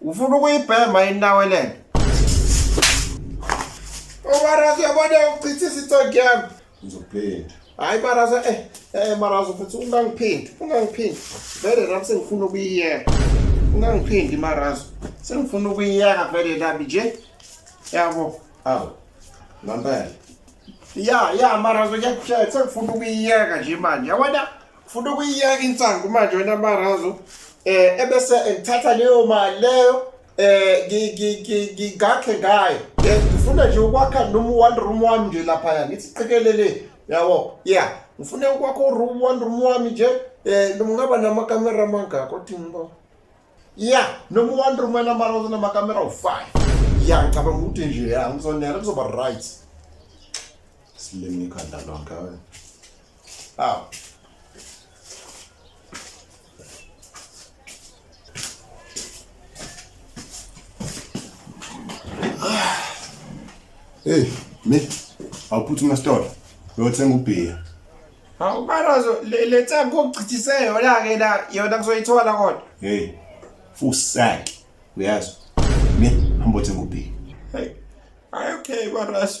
Ufuna ukuyibhema inawe lento. Obarazo yabona uchitha isithonke yami. Ngizophinda. Hayi Marazo eh eh Marazo futhi ungangiphindi, ungangiphindi. Vele nami sengifuna ukuyiyeka. Ungangiphindi Marazo. Sengifuna ukuyiyeka vele nami nje. Yabo. Awu. Mampela. Ya, ya Marazo ngiyakutshela sengifuna ukuyiyeka nje manje. Yabona? Ufuna ukuyiyeka insangu manje wena Marazo eh ebese ngithatha leyo mali leyo eh ngi- ngi- ngi- ngigakhe ngayo Eh, ngifuna nje ukwakha noma one room wami nje lapha ya ngithi qikelele yabo yeah ngifuna ukwakha room one room wami nje eh noma ngaba namakamera mangaka othi ngiba yeah noma one room wena Marazo namakamera u5 yeah ngicabanga ukuthi nje ya ngizonela kuzoba right Silimi ikhanda lonke wena. Aw. Hey, me. Awuphuthume esitolo. Uyothenga ubhiya. Hawu barazo le le tsa kochithise yona ke la yona kuzoyithola kodwa. Hey. Fusaki. Uyazi. Me hamba othenga ubhiya. Hey. Ay okay barazo.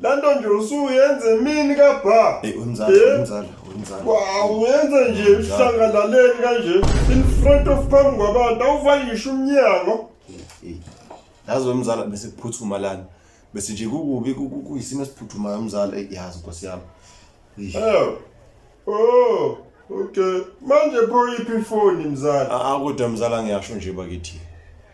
Lento nje usuyenze emini ka bha. Hey unzala Eh? unzala unzala. Wow, uyenze nje ihlangalaleni kanje in front of phambi kwabantu awuvali ngisho umnyango. Hey. Yazi wemzala bese kuphuthuma lana. Bese nje kukubi ku- ku- kuyisimo esiphuthumayo umzala hey yazi Nkosi yami. Hey. Eh, Oh, okay. Manje pho iphi ifoni mzala? Ah, ah kodwa mzala ngiyasho nje bakithi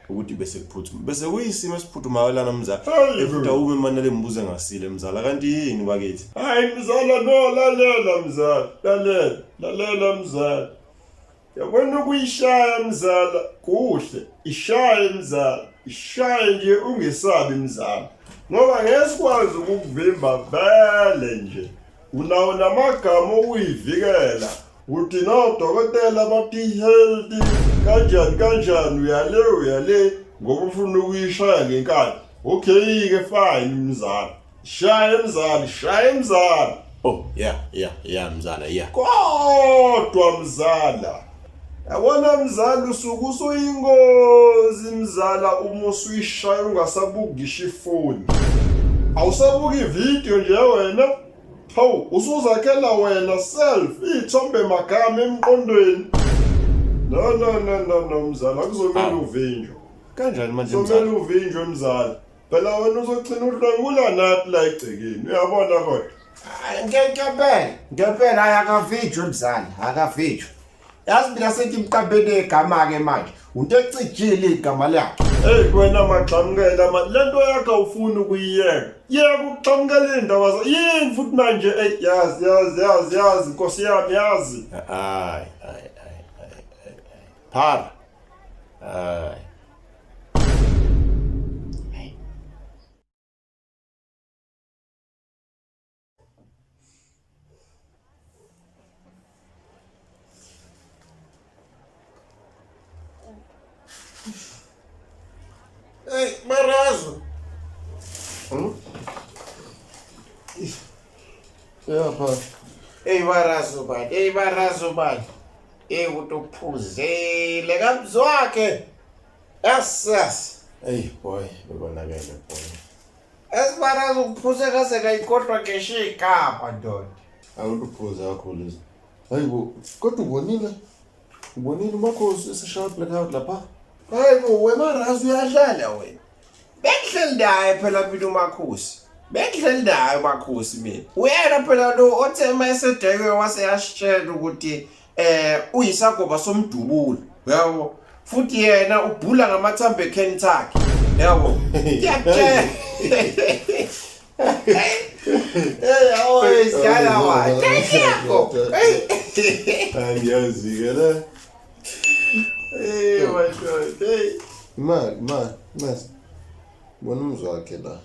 ukuthi bese kuphuthuma. Bese kuyisimo esiphuthumayo lana mzala. Efuta ume manele mbuze ngasile mzala kanti yini bakithi? Hayi mzala no lalela mzala. Lalela, lalela mzala. Yabona ukuyishaya mzala kuhle, ishaye mzala, ishaye nje ungesabi mzala. Ngoba ngesikwazi ukukuvimba vele nje. Unawo namagama okuyivikela. Uthi no dokotela bathi healthy kanjani kanjani uyale uyale ngoba ufuna ukuyishaya ngenkani. Okay ke fine mzala. Shaya mzali, shaya mzali. Oh, yeah, yeah, yeah mzala, yeah. Kodwa mzala. Yabona mzala usuku usuyingozi mzala uma usuyishaya ungasabuki ifoni. Awusabuki video nje wena. Hawu, usuzakhela wena self ithombe magama emqondweni. No no no no no mzala kuzomela uvinjwa. Kanjani manje mzala? Kuzomela uvinjwe mzala. phela wena uzogcina udlwengula nathi la egcekeni uyabona kodwa ngempela ngempela hayi akavijwe mzali akavijwe yazi mina sengimqabele igama-ke manje unto ecijile igama lakhe eyi wena magxamukela ma le nto yakhe awufuni ukuyiyeka yeka ukuxamukela iy'ndaba za yini futhi manje eyi yazi yazi yazi yazi nkosi yami yazi hayi hayi hayi hayi hayi phara hayi Eyvah Razuban, eyvah Razuban. Ey umuntu uphuzile kamzwakhe. Yes yes. Ey boy, bekonakele boy. Esibara ukuphuza kaze kayikhohlwa ngeshe igama ndoda. Awuluphuza kakhulu izinto. Hayi bo, kodwa ubonile? Ubonile umakhosi esishaya blackout lapha? Hayi bo, wemarazi uyadlala wena. bengihleli naye phela mina umakhosi bengihleli naye umakhosi mina uyena phela lo othe uma esedekwe waseyasitshela ukuthi eh uyisagoba somdubulo yabo futhi yena ubhula ngamathambo ekheni takhe yabo ngiyakutshela Hey, always got a lot. Thank you. Hey. And yes, you get it. Hey, my God. Hey. Imali, imali, ncese. Bona umzi wakhe la.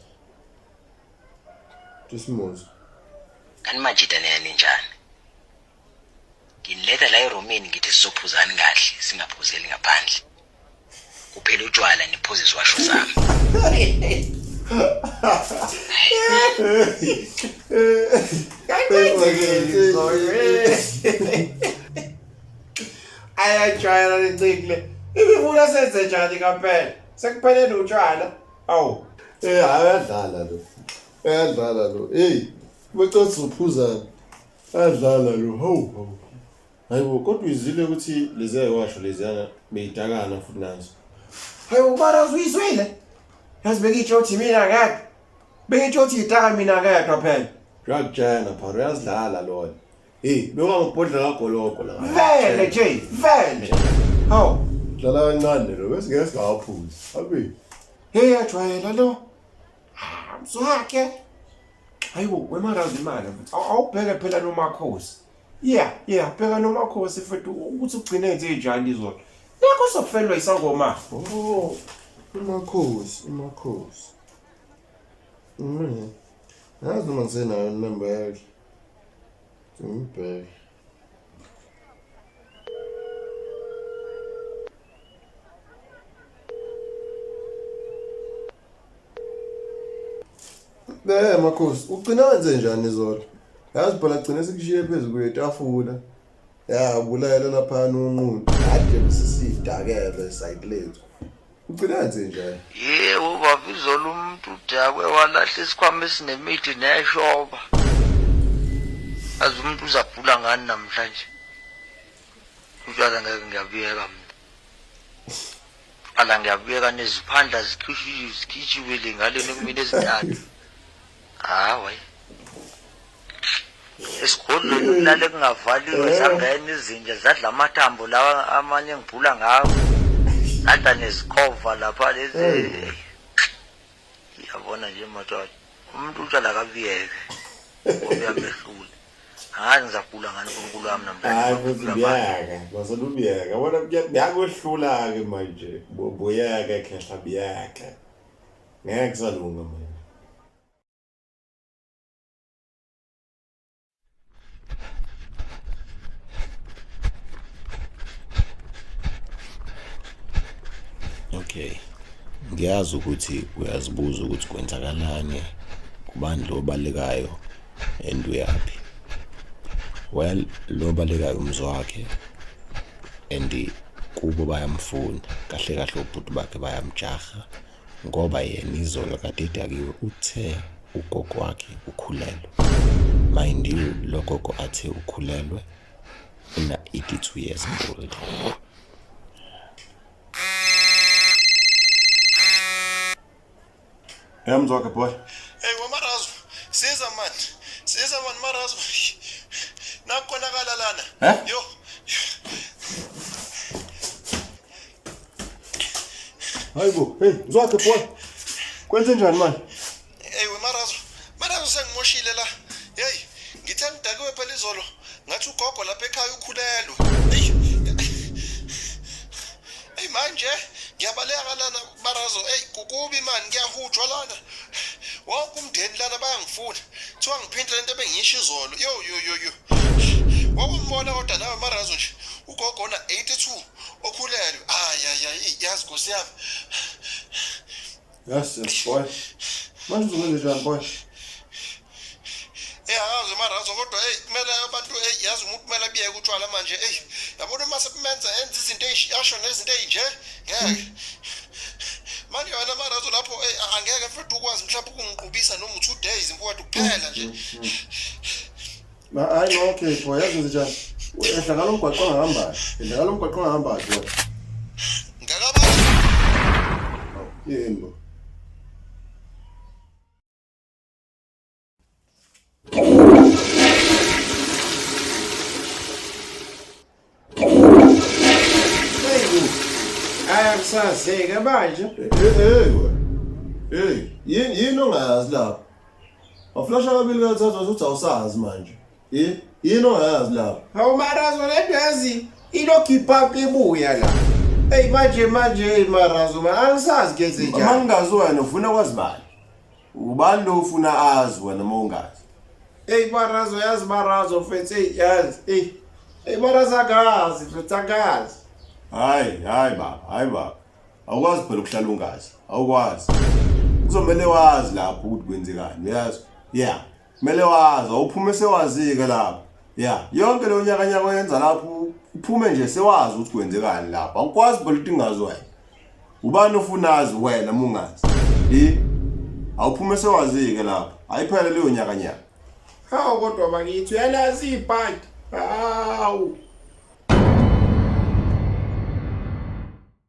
Tusimuzi. Kanti manje iDaniel ninjani? Nginiletha la eroomini ngithi sizophuzani kahle singaphuzeli ngaphandle. kuphela utshwala niphuze iziwasho zami ayajwayela lencikile ibifuna senze njani kampela sekupheleni utshwala awu Eh ayadlala lo. Ayadlala lo. Hey, bacotha uphuzana. Ayadlala lo. Hawu hawu. Hayibo kodwa uyizile ukuthi leziya iwasho leziyana beyidakana futhi nazo. Hayibo mara uzuyizwile. Yazi bengisho ukuthi mina ngeke. Bengisho ukuthi idaka mina ngeke phela. Uyakujana phara uyazidlala lona. Hey, bewangibhodla kagoloko la. Vele nje, vele. Hawu, Dlala kancane lo bese ngeke singawaphuzi. Abi. hey ajwayela lo. Ah, mswakhe. Hayibo wemarazi imali. Awubheke phela nomakhosi. Yeah, yeah, bheka nomakhosi mfethu ukuthi ugcine nje njani izolo. Nakho sofelwa isangoma. Oh, umakhosi, umakhosi. Mm. Yazi noma ngisenayo inamba yakhe. Ngibheke. Bee makhosi ugcina wenze njani izolo yazi phela gcine sikushiye phezu kwetafula ya bulayela laphana unqulu kade besisiyidakele side lethu ugcina wenze njani yebo baba izolo umuntu udakwe walahla isikhwama esinemithi neshoba azi umuntu uzabhula ngani namhlanje utshwala ngeke ngiyabuyeka mina Ala ngiyabuyeka neziphandla zikhishiwe zikhishiwe le ngale nekumina ezintathu. Hawe. Esigodlweni kulale kungavaliwe zangena izinja zadla amathambo lawa amanye ngibhula ngawo. Zadla nezikhova lapha lezi. Yabona nje madoda. Umuntu utshala kabiyeke. Ngoba uyamehlula. Angazi ngizagula ngani uNkulunkulu wami namhlanje. Hayi futhi biyaka, masela ubiyaka. Wena biyakwehlula-ke manje. Bu- Buyaka khehla biyaka. Ngeke kusalunga manje. Okay. Ngiyazi ukuthi uyazibuza ukuthi kwenzakalani kubandla obalekayo and uyaphi well lo balekayo umzi wakhe and kubo bayamfuna kahle kahle obhuti bakhe bayamjaha ngoba yena izolo kade edakiwe uthe ugogo wakhe ukhulelwe mind you lo gogo athe ukhulelwe una 82 years old Hey mzoka boy. Hey wamarazo. Siza man. Siza man marazo. Nakonakala lana. Eh? Yo. Hayibo, hey mzoka boy. Kwenze njani man? Hey wamarazo. Marazo sengimoshile la. Hey, ngithe ngidakiwe phela izolo. Ngathi ugogo lapha ekhaya ukhulelwe. Hey. Hey manje ngiyabaleka lana Marazo, hey kukubi mani kuyahujwa lana. Wonke umndeni lana bayangifuna. Kuthiwa ngiphinte lento ebengiyisho izolo. Yo yo yo yo. Wakumbona kodwa nawe Marazo nje. Ugogo ona 82 okhulelwe. Ay ay ay yazi Nkosi yami. Yes, yes boy. Manje uzokwenza njani boy? eyi akazi umarazo kodwa eyi kumele abantu eyi yazi umuntu kumele abiyeke utshwala manje eyi yabona uma sebumenza enza izinto asho nezinto eyinje ngeke manje wena marazo lapho eyi angeke mfethu ukwazi mhlawumbe ukungiqubisa noma u-two days mfowethu kuphela nje hayi no okay pho yazi njani ehla ngalo mgwaqo ongahambayo ehla ngalo mgwaqo ongahambayo pho ngakabani yini bo Akusazeke manje. Hey. Hey, yini yini ongayazi lapho? Waflasha kabili kathathu uthi awusazi manje. Yini yini ongayazi lapho? Hawu marazo lento yazi ilokhipha ibuya la. Hey manje manje hey marazo ma angisazi ke zinja. Uma ngingazi wena ufuna kwazi bani? Ubani lo ufuna azi wena uma ungazi? Eyi barazo yazi barazo mfethu eyi yazi eyi eyi barazo akazi mfethu akazi. Hayi hayi baba hayi baba awukwazi phela ukuhlala ungazi awukwazi kuzomele wazi lapho ukuthi kwenzekani uyazi yeah Kumele wazi awuphume sewazike lapho. Ya, yonke leyo nyakanyaka oyenza lapho uphume nje sewazi ukuthi kwenzekani lapho. Awukwazi phela ukuthi ingazi wena. Ubani ofunazi wena mungazi? Yi awuphume sewazike lapho. Ayiphele leyo nyakanyaka. Hawu kodwa bakithi uyalazi ibhadi. Hawu.